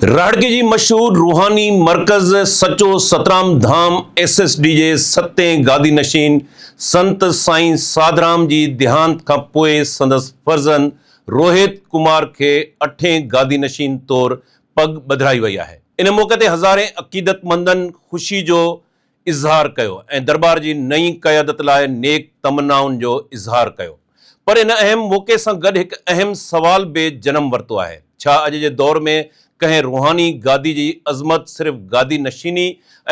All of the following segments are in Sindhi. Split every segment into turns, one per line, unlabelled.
رهاڙڪي جي مشهور روحاني مرڪز Sacho Satram Dham S S D جي ستين گادي نشين سنت سائين ساڌرام جي ديهانت کان پوء سندس فرزند روهيت ڪمار کي اٺين گادي نشين طور پڳ ٻڌرائي وئي آهي ان موقعي تي هزارين عقيدتمندن خوشي جو اظهار ڪيو ۽ درٻار جي نئين قيادت لاء نيڪ تمنائن جو اظهار ڪيو پر ان اهم موقعي سان گڏ هڪ اهم سوال به جنم ورتو آهي ڇا اڄ جي دور ۾ ڪنهن روحاني گادي جي عظمت صرف گادي نشيني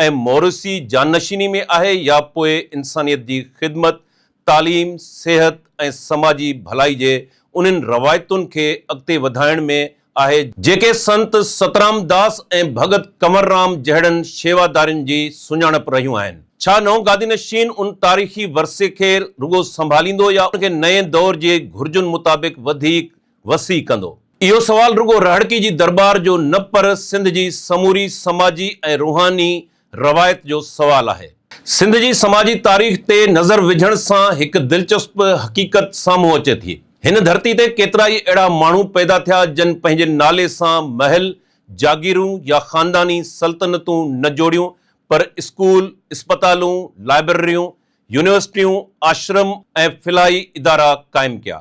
۽ موروثي جانشيني ۾ آهي يا پوء انسانيت جي خدمت تعليم، صحت ۽ سماجي ڀلائي جي انهن روايتن کي اڳتي وڌائڻ ۾ آهي، جيڪي سنت سترام داس ۽ ڀڳت ڪنور رام جهڙن شيوادارين جي سڃاڻپ رهيون آهن. ڇا نئون گادي نشين ان تاريخي ورثي کي رڳو سنڀاليندو يا ان کي نئين دور جي گهرجن مطابق وڌيڪ وسيع ڪندو؟ اهو سوال رڳو رهڙڪي جي درٻار جو نه پر سنڌ جي سموري سماجي ۽ روحاني روايت جو سوال آهي. سنڌ جي سماجي تاريخ تي نظر وجهڻ سان هڪ دلچسپ حقيقت سامهون اچي ٿي. هن ڌرتي تي ڪيترائي اهڙا ماڻهو پيدا ٿيا جن پنهنجي نالي سان محل، جاگيرون يا خانداني سلطنتون نه جوڙيون پر اسڪول، اسپتالون، لائبرريون، يونيورسٽيون، آشرم ۽ فلاحي ادارا قائم ڪيا.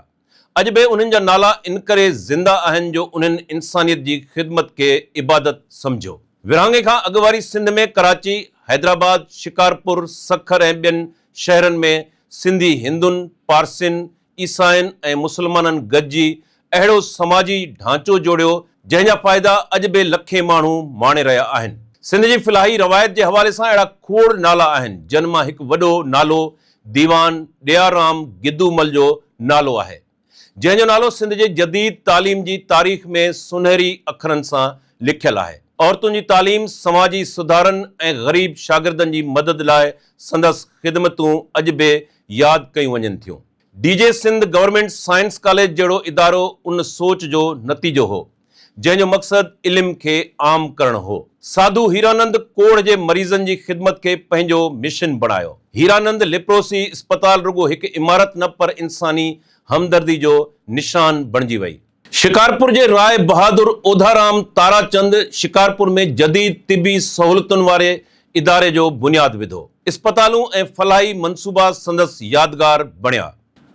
اڄ به انهن جا نالا انڪري زنده آهن جو انهن انسانيت جي خدمت کي عبادت سمجهيو. ورهاڱي کان اڳ واري سنڌ ۾ ڪراچي، حيدرآباد، شڪارپور، سکر ۽ ٻين شهرن ۾ سنڌي هندن، پارسين، عيسائين ۽ مسلمانن گڏجي اهڙو سماجي ڍانچو جوڙيو جنهن جا فائدا اڄ به لکين ماڻهو ماڻي رهيا آهن. سنڌ جي فلاحي روايت جي حوالي سان اهڙا کوڙ نالا آهن جن مان هڪ وڏو نالو ديوان ڏيار رام گدومل جو نالو آهي، جنهن جو نالو سنڌ جي جديد تعليم جي تاريخ ۾ سونهري اکرن سان لکيل آهي. عورتن جي تعليم، سماجي سڌارن ۽ غريب شاگردن جي مدد لاء سندس خدمتون اڄ به ياد ڪيون وڃن ٿيون. D J Sindh government science college جهڙو ادارو ان سوچ جو نتيجو هو. جنهن جو مقصد علم کي عام ڪرڻ هو. ساڌو هيرانند ڪوڙهه جي مريضن جي خدمت کي پنهنجو مشن بڻايو. هيرانند ليپروسي اسپتال رڳو هڪ عمارت نه پر انساني همدردي جو نشان بڻجي وئي. شڪارپور جي راء بهادر اوڌارام تاراچند شڪارپور ۾ جديد طبي سهولتن واري اداري جو بنياد وڌو. اسپتالون ۽ فلاحي منصوبا سندس يادگار بڻيا.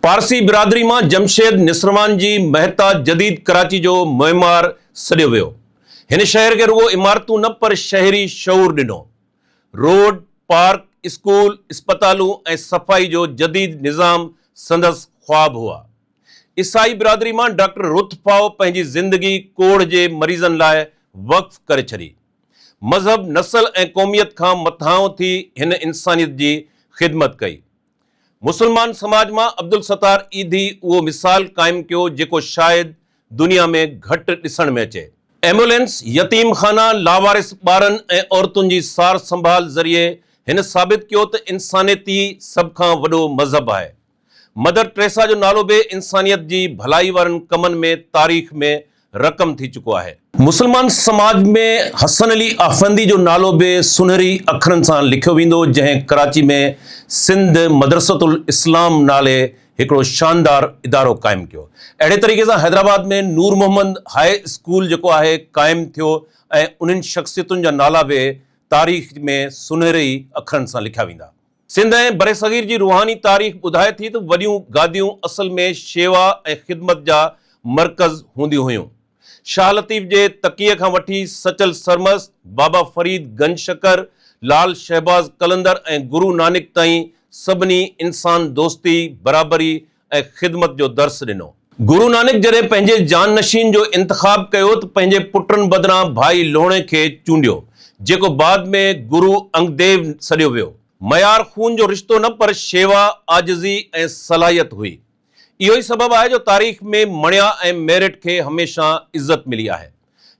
پارسي برادري مان جمشيد نسروان جي مهتا جديد ڪراچي جو معمار سڏيو ويو. هن شهر کي رڳو عمارتون نه پر شهري شعور ڏنو. روڊ، پارڪ، اسڪول، اسپتالون ۽ صفائي جو جديد نظام سندس خواب هئا. عيسائي برادري مان ڊاڪٽر رٿ ڦائو پنهنجي زندگي ڪوڙهه جي مريضن لاء وقف ڪري ڇڏي. مذهب، نسل ۽ قوميت کان مٿانهون ٿي هن انسانيت جي خدمت ڪئي. مسلمان سماج مان عبدالستار ايڌي اهو مثال قائم ڪيو جيڪو شايد دنيا ۾ گهٽ ڏسڻ ۾ اچي. ايمبولينس، يتيم خانا، لاوارث ٻارن ۽ عورتن جي سار سنڀال ذريعي هن ثابت ڪيو ته انسانيت ئي سڀ کان وڏو مذهب آهي. مدر ٽريسا جو نالو به انسانيت جي ڀلائي وارن ڪمن ۾ تاريخ ۾ رقم ٿي چڪو آهي. مسلمان سماج ۾ حسن علي آفندي جو نالو به سنهري اکرن سان لکيو ويندو جنهن ڪراچي ۾ سنڌ مدرسة الاسلام نالي هڪڙو شاندار ادارو قائم ڪيو اهڙي طريقي سان حيدرآباد ۾ نور محمد هاء اسڪول جيڪو آهي قائم ٿيو ۽ انهن شخصيتن جا نالا به تاريخ ۾ سنهري اکرن سان لکيا ويندا. سنڌ ۽ برصغير جي روحاني تاريخ ٻڌائي ٿي ته وڏيون گاديون اصل ۾ شيوا ۽ خدمت جا مرڪز هونديون هيون. شاهه لطيف جي تقيء کان وٺي سچل سرمست، بابا فريد گنج شڪر، لعل شهباز قلندر ۽ گرو نانڪ تائين سڀني انسان دوستي، برابري، ۽ خدمت جو درس ڏنو. گرو نانڪ جڏهن پنهنجي جانشين جو انتخاب ڪيو ته پنهنجي پٽن بدران ڀائي لوڻي کي چونڊيو، جيڪو بعد ۾ گرو انگديو سڏيو ويو. ميار خون جو رشتو نه پر شيوا، عاجزي ۽ صلاحيت هئي. اهو ئي سبب آهي جو تاريخ ۾ مڻيا ۽ ميرٽ کي هميشه عزت ملي آهي.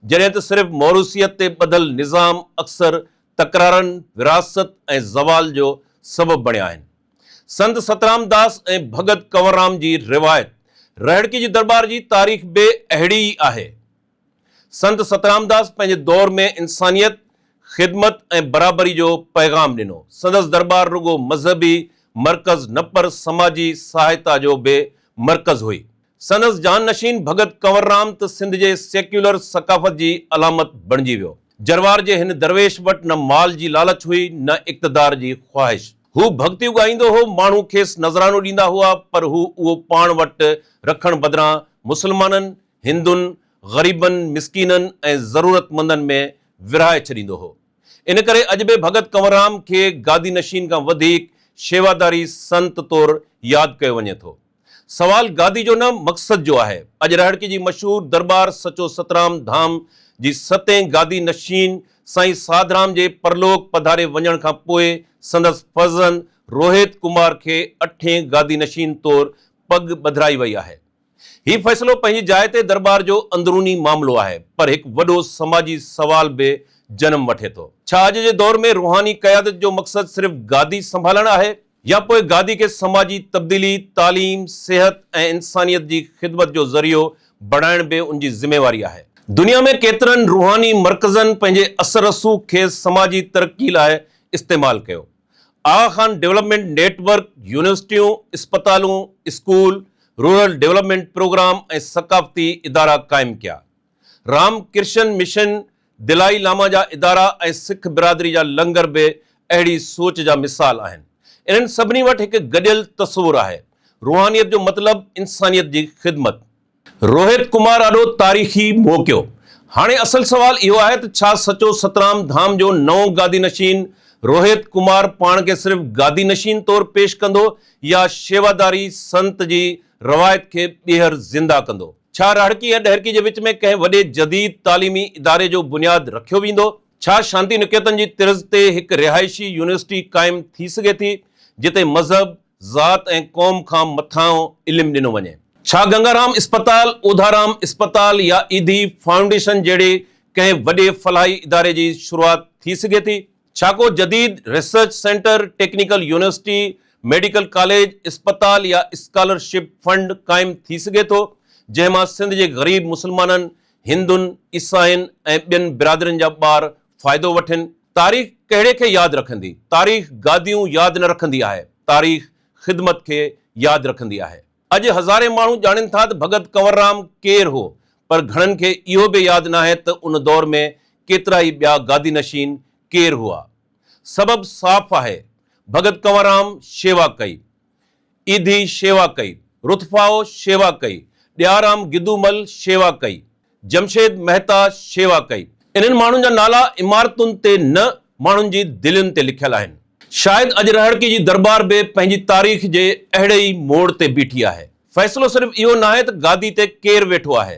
جڏهن ته صرف موروثيت تي ٻڌل نظام اڪثر تڪرارن، وراثت ۽ زوال جو سبب بڻيا آهن. سنت سترام داس ۽ ڀڳت ڪنوررام جي روايت رهڙڪي جي درٻار جي تاريخ به اهڙي ئي آهي. سنت سترام داس پنهنجي دور ۾ انسانيت، خدمت ۽ برابري جو پيغام ڏنو. سندس درٻار رڳو مذهبي مرڪز نه پر سماجي سهائتا جو به مرڪز هئي. سندس جانشين ڀڳت ڪنور رام ته سنڌ جي سيڪيولر ثقافت جي علامت بڻجي ويو. جروار جي هن درويش وٽ نه مال جي لالچ هئي نه اقتدار جي خواهش. هو ڀڳتيون ڳائيندو هو، ماڻهو کيس نذرانو ڏيندا هئا پر هو اهو پاڻ وٽ رکڻ بدران مسلمانن، هندن، غريبن، مسڪينن ۽ ضرورتمندن ۾ ورهائي ڇڏيندو هو. ان ڪري اڄ به ڀڳت ڪنور رام کي گادي نشين کان وڌيڪ شيواداري سنت طور ياد ڪيو وڃي ٿو. سوال گادي جو نه مقصد جو آهي. اڄ رهڙڪي جي مشهور درٻار سچو سترام ڌام جي ستين گادي نشين سائين ساڌرام جي پرلوڪ پڌاري وڃڻ کان پوء سندس فرزند روهيت ڪمار کي اٺين گادي نشين طور پڳ ٻڌرائي وئي آهي. هي فيصلو پنهنجي جاء تي درٻار جو اندروني معاملو آهي پر هڪ وڏو سماجي سوال به جنم وٺي ٿو. ڇا اڄ جي دور ۾ روحاني قيادت جو مقصد صرف گادي سنڀالڻ آهي يا پوء گادي کي سماجي تبديلي، تعليم، صحت ۽ انسانيت جي خدمت جو ذريعو بڻائڻ به ان جي ذميواري آهي. دنيا ۾ ڪيترن روحاني مرڪزن پنهنجي اثر رسوخ کي سماجي ترقي لاء استعمال ڪيو. Aga Khan development network, يونيورسٽيون، اسپتالون، اسڪول، رورل ڊولپمينٽ پروگرام ۽ ثقافتي ادارا قائم ڪيا. Ram Krishna mission, Dalai Lama جا ادارا ۽ سک برادري جا لنگر به اهڙي سوچ جا مثال آهن. انهن سڀني وٽ هڪ گڏيل تصور آهي، روحانيت جو مطلب انسانيت جي خدمت. روهت ڪمار آڏو تاريخي موقعو. هاڻي اصل سوال اهو آهي ته ڇا سچو سترام ڌام جو نئون گادي نشين روهت ڪمار پاڻ کي صرف گادي نشين طور پيش ڪندو يا شيواداري سنت جي روايت کي ٻيهر زنده ڪندو؟ ڇا راهڙڪي ۽ ڏهرڪي جي وچ ۾ ڪنهن وڏي جديد تعليمي اداري جو بنياد رکيو ويندو؟ ڇا شانتي نڪيتن جي طرز تي هڪ رهائشي يونيورسٽي قائم ٿي سگهي ٿي، جتي مذهب، ذات ۽ قوم کان مٿانهون علم ڏنو وڃي؟ ڇا گنگارام اسپتال، اوڌارام اسپتال يا ايڌي فائونڊيشن جهڙي ڪنهن وڏي فلاحي اداري جي شروعات ٿي سگهي ٿي، ڇا ڪو جديد research centre, technical university, medical college, اسپتال يا اسڪالر شپ فنڊ قائم ٿي سگهي ٿو، جنهن مان سنڌ جي غريب مسلمانن، هندن، عيسائين ۽ ٻين برادرين جا ٻار فائدو وٺن؟ تاريخ ڪهڙي کي ياد رکندي؟ تاريخ گاديون ياد نه رکندي آهي، تاريخ خدمت کي ياد رکندي آهي. اڄ هزارين ماڻهو ڄاڻين ٿا ته ڀڳت ڪنوررام ڪير هو، پر گهڻن کي اهو به ياد ناهي ته ان دور ۾ ڪيترا ئي ٻيا گادي نشين ڪير هئا. سبب صاف آهي، ڀڳت ڪنوررام شيوا ڪئي. ايڌي شيوا ڪئي. رٿڦائو شيوا ڪئي. ڏيارام گدومل شيوا ڪئي. جمشيد مهتا شيوا ڪئي. انهن ماڻهن جا نالا عمارتن تي نه، ماڻهن جي دلين تي لکيل آهن. شايد اڄ رهاڙڪي جي درٻار به پنهنجي تاريخ جي اهڙي ئي موڙ تي بيٺي آهي. فيصلو صرف اهو ناهي ته گادي تي ڪير ويٺو آهي،